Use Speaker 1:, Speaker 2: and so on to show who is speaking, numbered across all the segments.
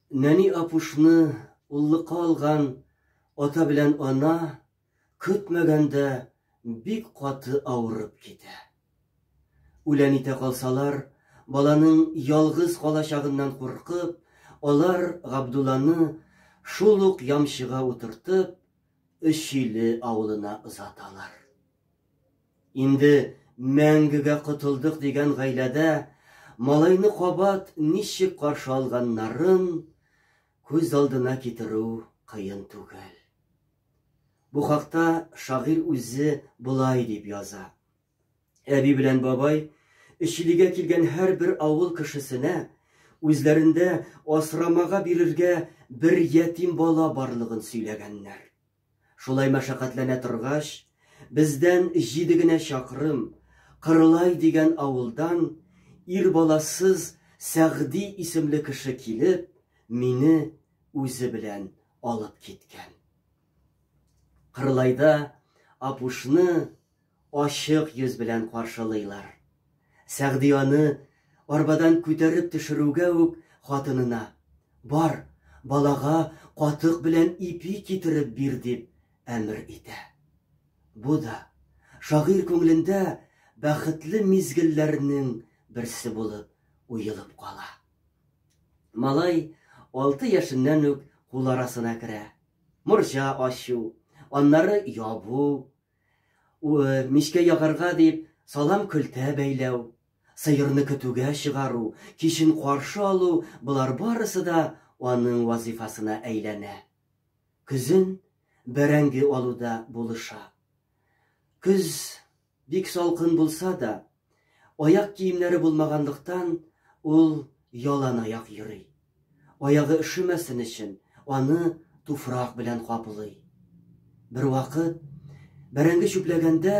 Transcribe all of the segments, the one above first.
Speaker 1: Нәни апушны уллыкка алган ата белән ана көтмәгәндә бик каты авырып китә. Үлән итә калсалар, баланың ялгыз калачагыннан куркып, алар Габдулланы шул ук ямчыга утыртып, Өчиле авылына озаталар. Инде мәңгегә котылдык дигән гаиләдә малайны кабат ничек каршы алганнарын күз алдына китерү кыен түгел. Бу хакта шагыйрь үзе болай дип яза. Әби белән бабай Өчилегә килгән һәрбер авыл кешесенә үзләрендә асрамага бирергә бер ятим бала барлыгын сөйләгәннәр. Шулай мәшәкатьләнә торгач, бездән җиде генә чакрым, Кырлай дигән авылдан ир баласыз Сәгъди исемле кеше килеп, мине үзе белән алып киткән. Кырлайда Апушны. ачык йөз белән каршылыйлар. Сәгъди аны арбадан күтәреп төшерүгә үк хатынына, Бар, балага катык белән ипи китереп бир, дип әмер итә. Бу да шагыйрь күңелендә бәхетле мизгелләрнең берсе булып уелып кала. Малай алты яшеннән үк кул арасына керә. Морҗа ачу, аннары ябу, Мичкә ягарга дип салам көлтә бәйләү, сыерны көтүгә чыгару, кичен каршы алу, болар барысы да аның вазыйфасына әйләнә. Көзен бәрәңге алуда булыша. Көз бик салкын булса да, Аяк киемнәре булмаганлыктан, ул яланаяк йөри. Аягы өшемәсен өчен, аны туфрак белән каплый. Бервакыт, бәрәңге чүпләгәндә,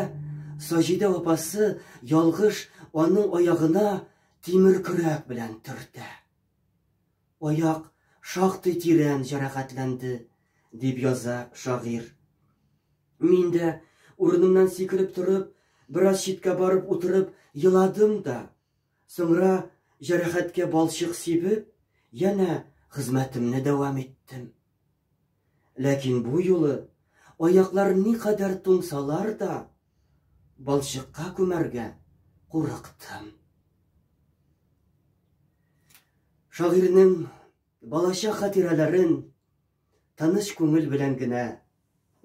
Speaker 1: Саҗидә апасы ялгыш аның аягына тимер көрәк белән төртә. Аяк шактый тирән җәрәхәтләнде, дип яза шагыйрь. Мин дә, урынымнан сикереп торып, бераз читкә барып утырып еладым да, соңра, җәрәхәткә балчык сибеп, янә хезмәтемне дәвам иттем. Ләкин бу юлы аяклар никадәр туңсалар да, балчыкка күмәргә курыктым. Шагыйрьнең балачак хатирәләрен тыныч күңел белән генә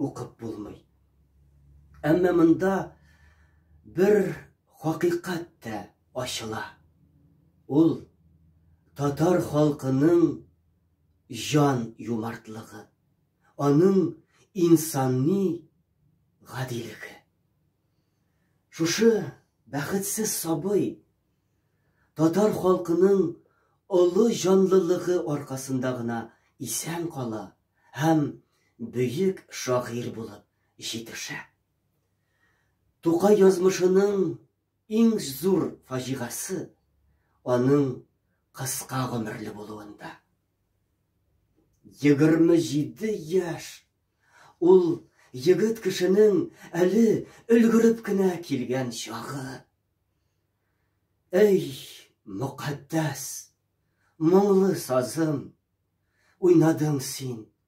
Speaker 1: укып булмый. Әмма монда бер хакыйкать тә ачыла. Ул татар халкының җан юмартлыгы, аның инсанни гадилеге. Шушы бәхетсез сабый татар халкының олы җанлылыгы аркасында гына исән кала һәм бөек шагыйрь булып җитешә. Тукай язмышының Иң зур фаҗигасы аның кыска гомерле булуында. Егерме җиде яшь! Ул егет кешенең әле өлгереп кенә килгән чагы. Әй, мөкатдәс, моңлы сазым, уйнадың син,